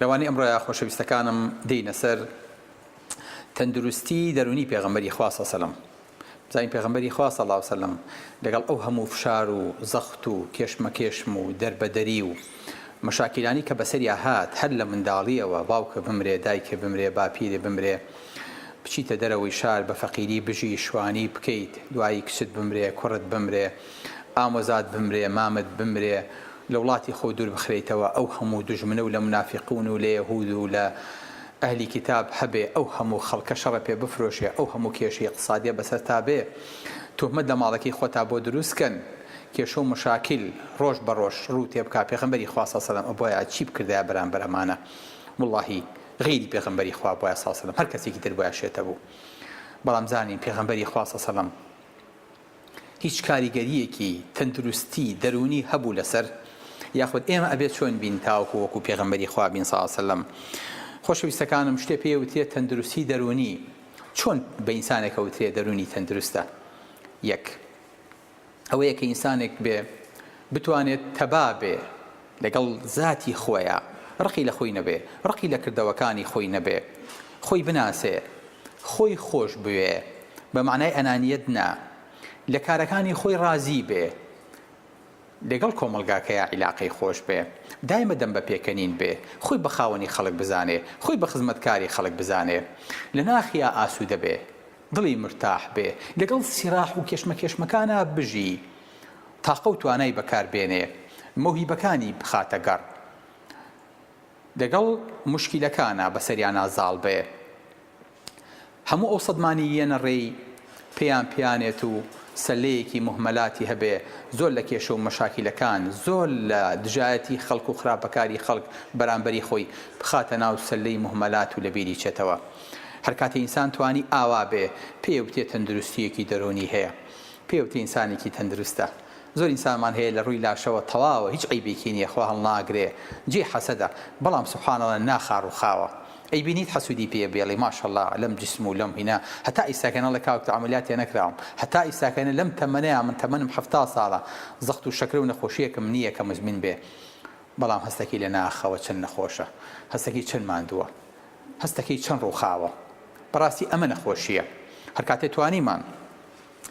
لەوانەی ئەمڕۆیە خۆشەویستەکانم دێینە سەر تەندروستی دەرونی پێغەمبەری خوا صلی اللە علیه و سلم بزانین پێغەمبەری خوا صلی اللە علیه و سلم لەگەڵ ئەو هەموو فشار و زەخت و کێشمەکێشم و دەربەدەری و مەشاکیلانی کە بەسەریا هات هەر لە منداڵیەوە باوکە بمرێ دایکێ بمرێ باپیرێ بمرێ بچیتە دەرەوەی شار بە فەقیری بژی شوانی بکەیت دوایی کچت بمرێ کوڕت بمرێ ئامۆزات بمرێ مامت بمرێ لە وڵاتی خۆ دوور بخرێیتەوە ئەو هەموو دوژمنە و لە منافیقون و لە یەهود و لە ئەهلی کیتاب هەبێ ئەو هەموو خەڵکە شەڕە پێ بفرۆشێ ئەو هەموو کێشەی ئیقتسادیە بەسەرتا بێ توهمەت لە ماڵەکەی خۆتا بۆ دروست کەن کێشە و مشاکیل ڕۆژ بە ڕۆژ ڕوو تێ بکا پێغەمبەری خوا سەڵ سەلەم ئەبوایە چی بکردایە بەرامبەر ئەمانە وڵاهی غەیری پێغەمبەری خوا بوایە سەڵ سەلەم هەر کەسێکی تر بوایە شێتە بوو بەڵام زانین پێغەمبەری خوا سەڵ سەلەم هیچ کاریگەریەکی تەندروستی دەروونی هەبوو لەسەر یاخود ئێمە ئەبێت چۆن بین تاوەکو وەکو پێغەمبەری خوا بین صلی اللە علیە وسلم خۆشەویستەکانم شتێ پێ وترێت تەندروستی دەروونی چۆن بە ئینسانێکە وترێت دەروونی تەندروستە یەک ئەوەیە کە ئینسانێک بێ بتوانێت تەبا بێ لەگەڵ زاتی خۆیا ڕقی لە خۆی نەبێ، ڕقی لە کردەوەکانی خۆی نەبێ، خۆی بناسێ، خۆی خۆش بوێ، بە مەعنای ئەنانیەت نا، لە کارەکانی خۆی ڕازی بێ، لەگەڵ کۆمەڵگاکەیا عیلاقەی خۆش بێ، دایمە دەم بە پێکەنین بێ، خۆی بە خاوەنی خەڵک بزانێ، خۆی بە خزمەتکاری خەڵک بزانێ، لە ناخیا ئاسوودە بێ، دڵی مرتاح بێ لەگەڵ سیراح و کێشمەکێشمەکانا بژی تاقەو توانای بەکار بێنێ مەوهیبەکانی بخاتە گەڕ لەگەڵ موشکیلەکانا بەسەریانا زاڵ بێ هەموو ئەو سەدمانی یەنە ڕێی پێیان پیانێت و سەلەیەکی موهمەلاتی هەبێ زۆر لە کێشە و مەشاکیلەکان زۆر لە دژایەتی خەڵک و خراپەکاری خەڵک بەرامبەری خۆی بخاتە ناو سەلەی موهمەلات و لەبیری چێتەوە هەر کاتێ ئینسان توانی ئاوا بێ، پێێ وتێ تەندروستییەکی دەروونی هەیە. پێێ وتێ ئینسانێکی تەندروستە. زۆر ئینسانمان هەیە لە ڕووی لاشەوە تەواوە، هیچ عەیبێکی نییە، خوا هەڵناگرێ، جێی حەسەدە، بەڵام سبحان اللە ناخا ڕووخاوە. ئەیبینیت حەسوودی پێێ بێڵی ماشااللە لەم جسم و لەم هینا، هەتا ئیستاکە نەڵێ کاک تۆ عەمەلیاتێ نەکراوم، هەتا ئیستاکە نەڵێ لەم تەمەنەیا، من تەمەنم حەفتا ساڵە، زەخت و شەکرە و نەخۆشییەکم نییە کە مزمین بێ. بەڵام هەستەکەی لە ناخەوە چەند نەخۆشە. هەستەکەی چەند ماندووە. هەستەکەی چەند ڕووخاوە. بەڕاستی ئەمە نەخۆشییە. هەر کاتێ توانیمان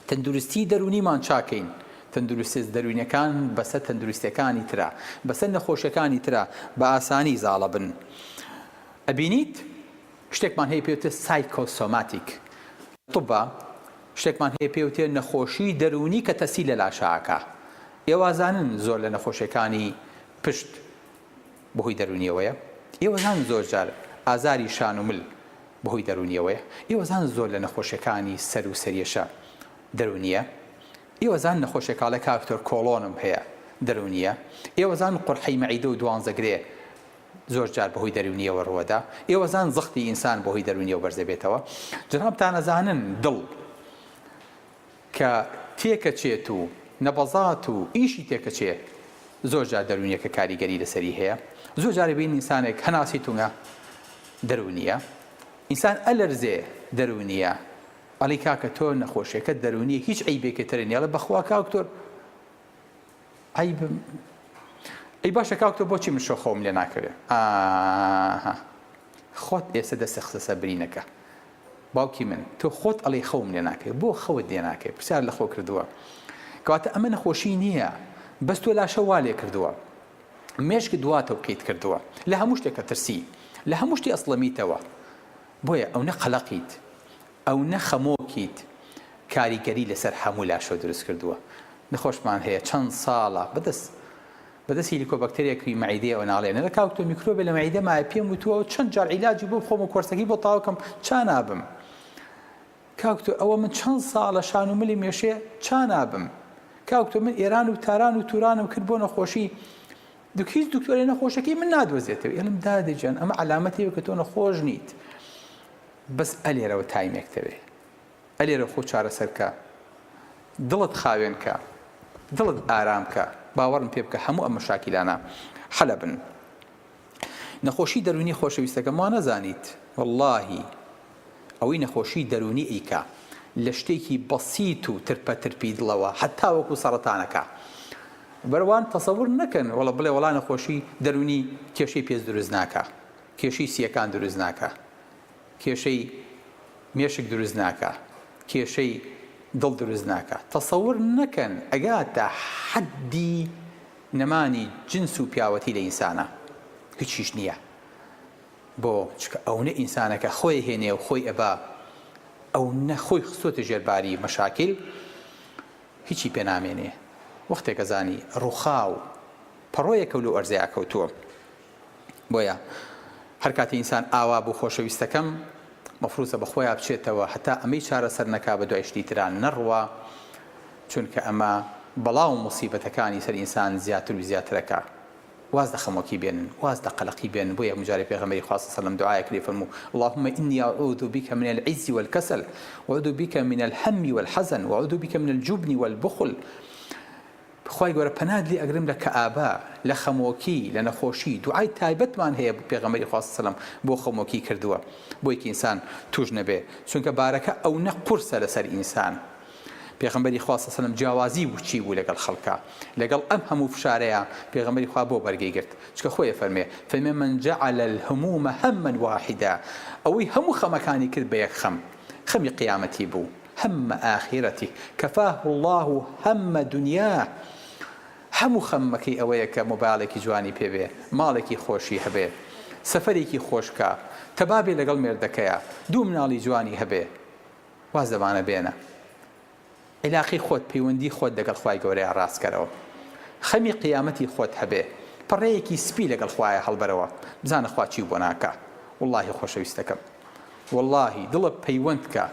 تەندروستیی دەروونیمان چاکەین، تەندروستییە دەروونییەکان بەسەر تەندروستییەکانی ترا، بەسەر نەخۆشییەکانی ترا بە ئاسانی زاڵە بن. ئەبینیت شتێکمان هەیە پێی وترێ سایکۆسۆماتیک. طوبا شتێکمان هەیە پێی وترێ نەخۆشیی دەروونی کە تەسیل لە لاشە ئەکا. ئێوازانن زۆر لە نەخۆشییەکانی پشت بەهۆی دەروونیەوەیە، ئێوە زانن زۆر جار ئازاری شان و مل بەهۆی دەروونیەوەیە، ئێوە زانن زۆر لە نەخۆشیەکانی سەر و سەرێشە دەروونیە، ئێوە زانن نەخۆشیە کاڵێ کاک دکتۆر کۆڵۆنم هەیە دەروونیە، ئێوە زانن قورحەی مەعیدە و دوانزە گرێ زۆر جار بەهۆی دەروونیەوە رووەدا، ئێوە زانن زەختی ئینسان بەهۆی دەروونیەوە بەرزەبێتەوە، جەنابتان ئەزانن دڵ. کە تێکەچێت و نەبەزات و ئیشی تێکەچێ زۆر جار دەروونیەکە کاریگەری لەسەری هەیە زۆر جار ئەبین ئینسانێک هەناسەی توونە دەروونیە ئینسان ئەلەرزێ دەروونیە ئەڵی کاکە تۆ نەخۆشیەکە دەروونیە هیچ عیبێکی ترنیە بەخوا کاکتۆر عەیبم ئەی باشە کاک تۆ بۆچی من شۆخەوم لێ ناکەوێ ئاها خۆت ئێستا دەستە خستە سەر برینەکە باوکی من تۆ خۆت ئەڵێی خەوم لێ ناکەی بۆ خەوت لێ ناکەی پرسیار لە خۆ کردووە کەواتە ئەمە نەخۆشی نییە بەس تۆ لاشە وا لێ کردووە مێشک دواتە و قیت کردووە لە هەموو شتێکە ترسی لە هەموو شتی ئەسڵەمیتەوە بۆیە ئەو نە قەلەقیت ئەو نە خەمۆکیت کاریگەری لەسەر هەموو لاشەو دروست کردووە نەخۆشمان هەیە چەند ساڵە بەدەست بەدەست هیلیکۆبەکتریەکی مەعیدەیەوە ناڵێ نەلە کاک تۆ میکرۆبێ لە مەعیدەمایە پێم وتووە و چەند جار عیلاجی بۆ بخۆم و کۆرسەکەی بۆ تاوکەم چا نابم کاک تۆ ئەوە من چەند ساڵە شان و ملی مێشێ چا نابم کاک تۆ من ئێران و تاران و تورانم کرد بۆ نەخۆشی دوک هیچ دکتۆرێ نەخۆشەکەی من نادۆزێتەوە ئێلم دادەجان ئەمە علامەتێک کە تۆ نەخۆش نیت بەس ئەلێرەوە تایمێک تەوێ ئەلێرە خۆ چارەسەر کە دڵت خاوێن کە دڵت ئارام کە باوەڕم پێ بکە هەموو ئەم مەشاکیلانە حەلەبن نەخۆشی دەروونی خۆشەویستەکەم وا نەزانیت وەڵاهی ئەوەی نەخۆشی دەروونی ئیکا لە شتێکی بەسیت و ترپە ترپی دڵەوە هەتا وەکو سەڕەتانەکە بەروان تەسەور نەکەن وەڵە بڵێ وەڵا نەخۆشی دەروونی کێشەی پێست دروست ناکە کێشەی سیەکان دروست ناکە کێشەی مێشک دروست ناکا کێشەی دڵ دروست ناکا تەسەور نەکەن ئەگاتە حەدی نەمانی جنس و پیاوەتی لە ئینسانا هیچیش نیە بۆ چکە ئەونە ئینسانەکە خۆی هێنێ و خۆی ئەبا ئەو نە خۆی خستۆتە ژێرباری مەشاکیل هیچی پێنامێنێ وەختێکە زانی ڕوخاو پەڕۆیەکە لەو ئەرزەیە کەوتووە بۆیە هەر کاتی ئینسان ئاوا بوو خۆشەویستەکەم مەفروزە بە خۆیا بچێتەوە هەتا ئەمەی چارەسەر نەکا بە دوای شتی ترا نەڕوا چونکە ئەمە بەڵا و موسیبەتەکانی سەر ئینسان زیاتر و زیاتر ئەکا واز لە خەمۆکی بێنن واز لە قەلەقی بێنن بۆیە هەموو جارێ پێغەمبەری خوا صلی سەلەم دوعایەک لێ فەرموو اللهم انی اعوذ بک من العجز والکسل واعوذ بک من الهم والحزن واعوذ بک من الجبن والبخل خوای گەورە پەنات لێ ئەگرم لە کەئابە لە خەمۆکی لە نەخۆشی دوعای تایبەت مان هەیە پێغەمبەری خوا سەلەم بۆ خەمۆکی کردووە بۆی کە ئینسان توش نەبێ چونکە بارەکە ئەونە قورسە لەسەر ئینسان پێغەمبەری خوا سەلەم جیاوازی و چی بوو لەگەڵ خەڵکا لەگەڵ ئەم هەموو فشارەیا پێغەمبەری خوا بۆ بەرگەی گرت چکە خۆی ئەفەرمێ فەرمێ من جعل الهموم هما واحدا ئەوەی هەموو خەمەکانی کرد بە یەک خەم خەمی قیامەتی بوو هم آخرته کفاه اللە هم دنیاه هەموو خەممەکەی ئەوەیە کە مۆبایڵێکی جوانی پێ بێ، ماڵێکی خۆشی هەبێ، سەفەرێکی خۆش بکا، تەبا بێ لەگەڵ مێردەکەیا، دوو مناڵی جوانی هەبێ. واز لەمانە بێنە. عیلاقەی خۆت، پەیوەندی خۆت لەگەڵ خوای گەورەیا ڕاست کەرەوە. خەمی قیامەتی خۆت هەبێ. پەڕەیەکی سپی لەگەڵ خوایە هەڵبەرەوە. بزانە خوا چی بۆ ناکا. وەڵڵاهی خۆشەویستەکەم. وەڵاهی دڵە پەیوەند کە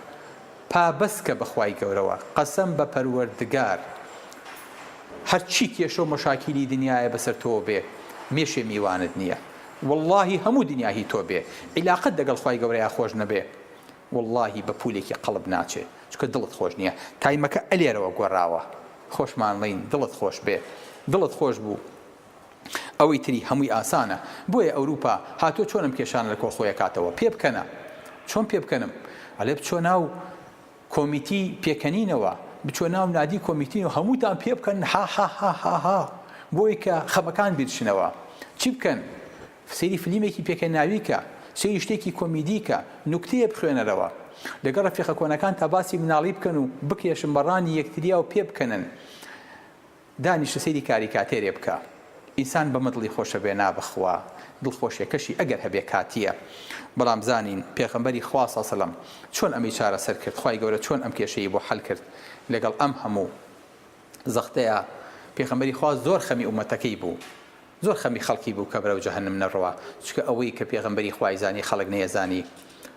پابەست کە بەخوای گەورەوە قەسەم بە پەروەردگار هەرچی کێشەو مەشاکیلی دنیایە بەسەر تۆوە بێ مێشێ میوانت نیە وەڵاهی هەموو دنیا هی تۆ بێ عیلاقەت دەگەڵ خوای گەورەیا خۆش نەبێ وەڵاهی بە پولێکی قەڵب ناچێ چونکە دڵت خۆش نیە تایمەکە ئەلێرەوە گۆراوە خۆشمانڵێین دڵت خۆش بێ دڵت خۆش بوو. ئەوەی تری هەمووی ئاسانە بۆیە ئەوروپا هاتوە چۆن ئەم کێشانە لە کۆ خۆی ئەکاتەوە پێ بکەنە چۆن پێ بکەنم ئەلێ بچۆ ناو کۆمیتی پێکەنینەوە بچۆ ناو نادی کۆمیتین و هەمووتان پێ بکەن ها ها ها ها ها بۆی کە خەمەکان بیرچنەوە چی بکەن سەیری فلیمێکی پێکە ناویکە سەیری شتێکی کۆمیدیکە نوکتەیە بخوێنەرەوە لەگەڵ ڕەفیقە کۆنەکان تا باسی مناڵی بکەن و بکێشن بەڕانی یەکتریا و پێ بکەنن دانیشە سەیری کاریکاتێرێ بکە ئینسان بەمە دڵی خۆشەبێ نابەخوا دڵخۆشێکەشی ئەگەر هەبێ کاتییە بەڵام بزانین پێغەمبەری خوا صلی سلم چۆن ئەمەی چارەسەر کرد خوای گەورە چۆن ئەم کێشەی بۆ حەل کرد لەگەڵ ئەم هەموو زەختەیا پێغەمبەری خوا زۆر خەمی ئومەتەکەی بوو زۆر خەمی خەڵکی بوو کە بەرەو جەهەنم نەڕوا چکە ئەوەی کە پێغەمبەری خوای زانی خەڵک نەیەزانی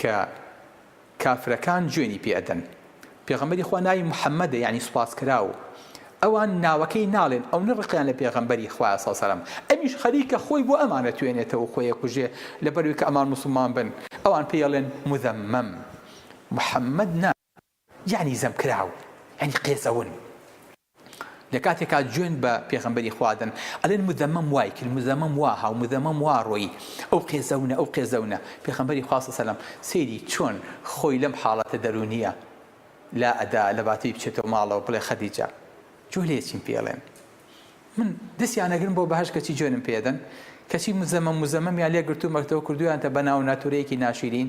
کە کافرەکان جوێنی پێ ئەدەن پێغەمبەری خوا ناوی محمدە یەعنی سوپاس کراو ئەوان ناوەکەی ناڵێن ئەونە ڕقیان لە پێغەمبەری خوایە سەڵ سەلام ئەمیش خەریکە خۆی بۆ ئەمان ئەتوێنێتەوە خۆی ئەکوژێ لەبەروی کە ئەمان موسڵمان بن ئەوان پێی ئەڵێن مذمم محمد نا یەعنی زەم کراو یەعنی قێزەون لە کاتێکا جوێن بە پێغەمبەری خوا دەن ئەلێن مزەمەم وای کرد مزەمەم وا هاو مزەمەم وا رۆیی ئەو قێزەونە ئەو قێزەونە پێخەمبەری خوا سەسەلەم سەیری چۆن خۆی لەم حاڵەتە دەرونیە لا ئەدا لە باتەی بچێتەوە ماڵەوە بڵێ خەدیجە جوێ لێ چیم پێڵێن من دەسیان ئەگرم بۆ بەهەش کەچی جوێنم پێدەن کەچی مزەمەم مزەمەمیان لێ گرتومەکتەوە کردویانتە بە ناو ناتورەیەکی ناشیرین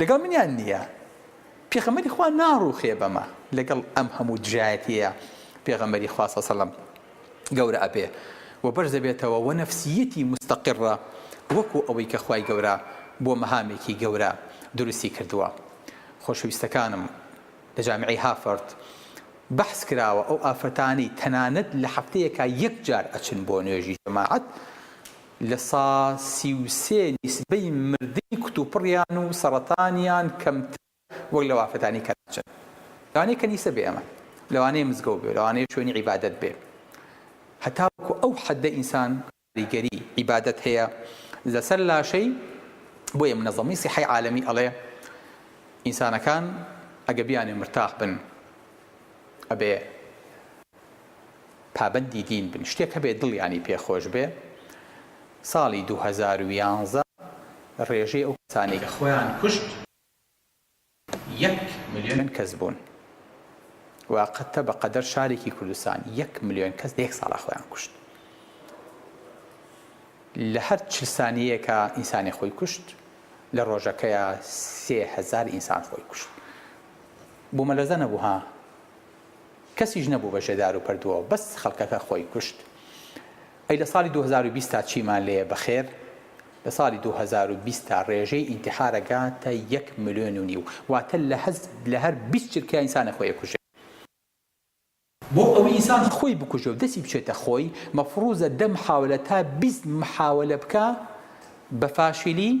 لەگەڵ منیان نییە. پێغەمبەری خوا ناڕووخێ بەمە لەگەڵ ئەم هەموو دژایەتیەیا پێغەمبەری خوا سەڵ سەلەم گەورە ئەبێ و بەرز دەبێتەوە وە نەفسیەتی موستەقڕە وەکو ئەوەی کە خوای گەورە بۆ مەهامێکی گەورە دروستی کردووە خۆشەویستەکانم لە جامیعی هافەرد بەحس کراوە ئەو ئافرەتانەی تەنانەت لە هەفتەیەکا یەک جار ئەچن بۆ نوێژی جەماعەت لە سا سی و سێ نیسبەی مردنی کوتوپڕیان و سەڕەتانیان کەمترە وەک لە وافەتانی کەلەچن. لەوانەیە کەنیسە بێ ئەمە. لەوانەیە مزگەوت بێ. لەوانەیە شوێنی عیبادەت بێ. هەتاوەکو ئەو حەددە ئینسان کاریگەریی، عیبادەت، هەیە لە سەر لاشەی. بۆیە منەزەمەی سیحەی عالەمی ئەڵێ ئینسانەکان ئەگە بیانوێ مرتاح بن ئەبێ. پابەندی دین بن شتێک هەبێ دڵیانی پێ خۆش بێ ساڵی دوو هەزار و یانزە ڕێژەی ئەو کەسانەی کە خۆیان کوشت یەک ملیۆن کەس بوون وا قەتە بە قەدەر شارێکی کوردستان یەک ملیۆن کەس لە یەک ساڵا خۆیان کوشت لە هەر چل سانیەیەکە ئینسانی خۆی کوشت لە ڕۆژەکەیە سێ هەزار ئینسان خۆی کوشت بۆ مەلەزە نەبوو ها کەسیش نەبوو بەژێ دارو پەردووەوە بەس خەڵکەکە خۆی کوشت ئەی لە ساڵی دوو هەزار و بیست تا چیمان لێیە بەخێر لە ساڵی دوو هەزار و بیست تا ڕێژەی ئینتیحارە گاتە یەک ملێۆن و نیو واتە لە هەز لە هەر بیست چرکە ئینسانە خۆی ئەکوژێ بۆ ئەوەی ئینسان خۆی بکوژێ و دەسی بچێتە خۆی مەفڕوزە دە محاولە تا بیست محاولە بکا بە فاشیلی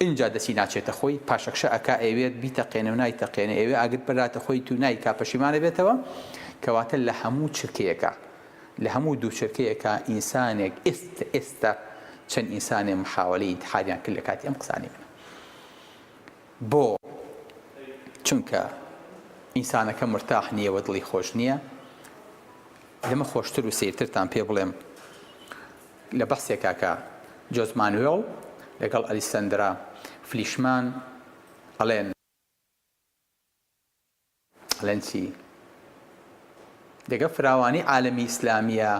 ئینجا دەسی ناچێتە خۆی پاشەکشە ئەکا ئەیەوێت بیتەقێنێ و نایتەقێنێ ئەیەوێ ئاگر بەراتە خۆی تو نایکا پەشیمان ئەبێتەوە کەواتە لە هەموو چرکەیەکا لە هەموو دوو چرکەیەکا ئینسانێک ئێست ئێستا چەند ئینسانێ محاوەلەی ئینتحاریان کرد لە کاتی ئەم قسانەی منە بۆ چونکە ئینسانەکە مرتاح نییە و دڵی خۆش نییە لەمە خۆشتر و سیرترتان پێ بڵێم لە بەحسێکا کە جۆز مانوێڵ لەگەڵ ئەلیسەندرا فلیشمان ئەڵێن. ئەڵێن چی؟ دەگە فراوانی عالەمی ئیسلامیە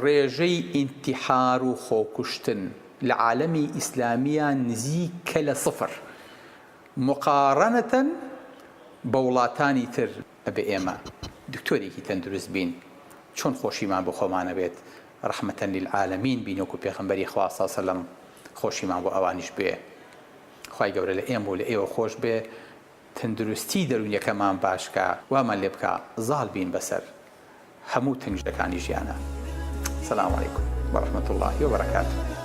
ڕێژەی ئینتیحار و خۆکوشتن لە عالەمی ئیسلامیە نزیکە لە سفر مقاڕەنەتەن بە وڵاتانی تر ئەبێ ئێمە دکتۆرێکی تەندروست بین چۆن خۆشیمان بۆ خۆمان ئەبێت رحمتن للعالمین بین وەکو پێخەمبەری خوا صلی سلم خۆشیمان بۆ ئەوانیش بێ خوای گەورە لە ئێمە و لە ئێوە خۆش بێ تندروستی دەرونیەکەمان باش کا وامان لێ بکا زاڵ بین بەسەر هەموو تنگژەکانی ژیانا سلام علیکم و رحمتاللە وبرکاتو.